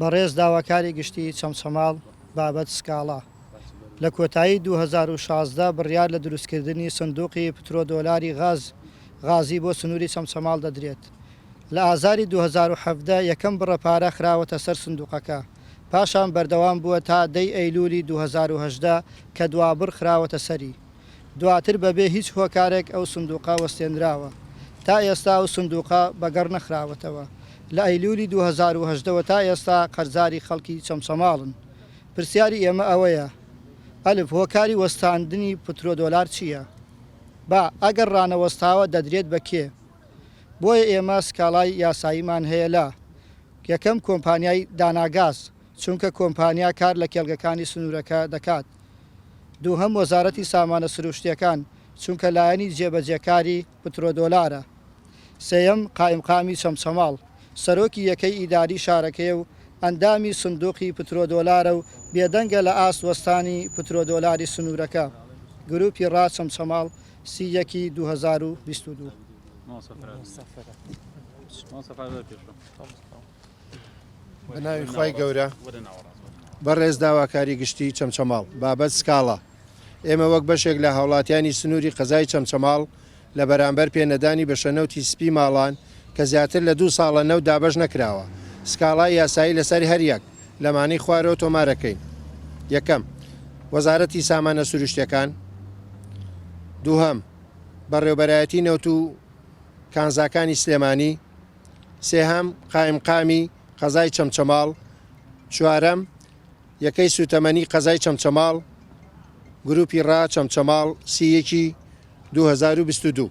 بەڕێز داواکاری گشتی چەمچەماڵ بابەت سکاڵا، لە کۆتایی دوو هەزار و شازدە بڕیار لە دروستکردنی سندوقی پترۆدۆلاری غاز غازی بۆ سنوری چەمچەماڵ دەدرێت، لە ئازاری دوو هەزار و حەڤدە یەکەم بڕە پارە خراوەتە سەر سندوقەکە، پاشان بەردەوام بووە تا دەی ئەیلولی دوو هەزار و هەژدە کە دوابڕ خراوەتە سەری. دواتر بەبێ هیچ هۆکارێک ئەو سندوقە وەستێنراوە، تا ئێستا ئەو سندوقە بەگەڕ نەخراوەتەوە، لە ئەیلولی دوو هەزار و هەژدە وە تا ئێستا قەرزاری خەڵکی چەمچەماڵن، پرسیاری ئێمە ئەوەیە، ئەلف، هۆکاری وەستاندنی پترۆ دۆلار چییە؟ با، ئەگەر ڕانەوەستاوە دەدرێت بە کێ؟ بۆیە ئێمە سکاڵای یاساییمان هەیە لە، یەکەم، کۆمپانیای داناگاز، چونکە کۆمپانیا کار لە کێڵگەکانی سنوورەکە دەکات، دووهەم وەزارەتی سامانە سروشتیەکان چونکە لایەنی جێبەجێکاری پترۆدۆلارە سێیەم قائیمقامی چەمچەماڵ سەرۆکی یەکەی ئیداری شارەکەیە و ئەندامی سندوقی پترۆدۆلارە و بێدەنگە لە ئاست وەستانی پترۆدۆلاری سنورەکە گروپی ڕا چەمچەماڵ سی یەکی دوو هەزار و بیست و دوو. بەناوی خوای گەورە بەڕێز داواکاری گشتی چەمچەماڵ بابەت سکاڵا ئێمە وەک بەشێک لە هاوڵاتیانی سنووری قەزای چەمچەماڵ لە بەرامبەر پێنەدانی بە شەنەوتی سپی ماڵان کە زیاتر لە دوو ساڵە نەو دابەش نەکراوە سکاڵای یاسایی لەسەر هەریەک لەمانەی خوارەوە تۆمارەکەین یەکەم وەزارەتی سامانە سروشتەکان دووهەم بەڕێوبەرایەتی نەوت و کانزاکانی سلێمانی سێهەم، قائیمقامی قەزای چەمچەماڵ چوارەم، یەکەی سووتەمەنی قەزای چەمچەماڵ گروپی ڕا چەمچەماڵ سی یەکی دوو هەزار و بیست و دوو.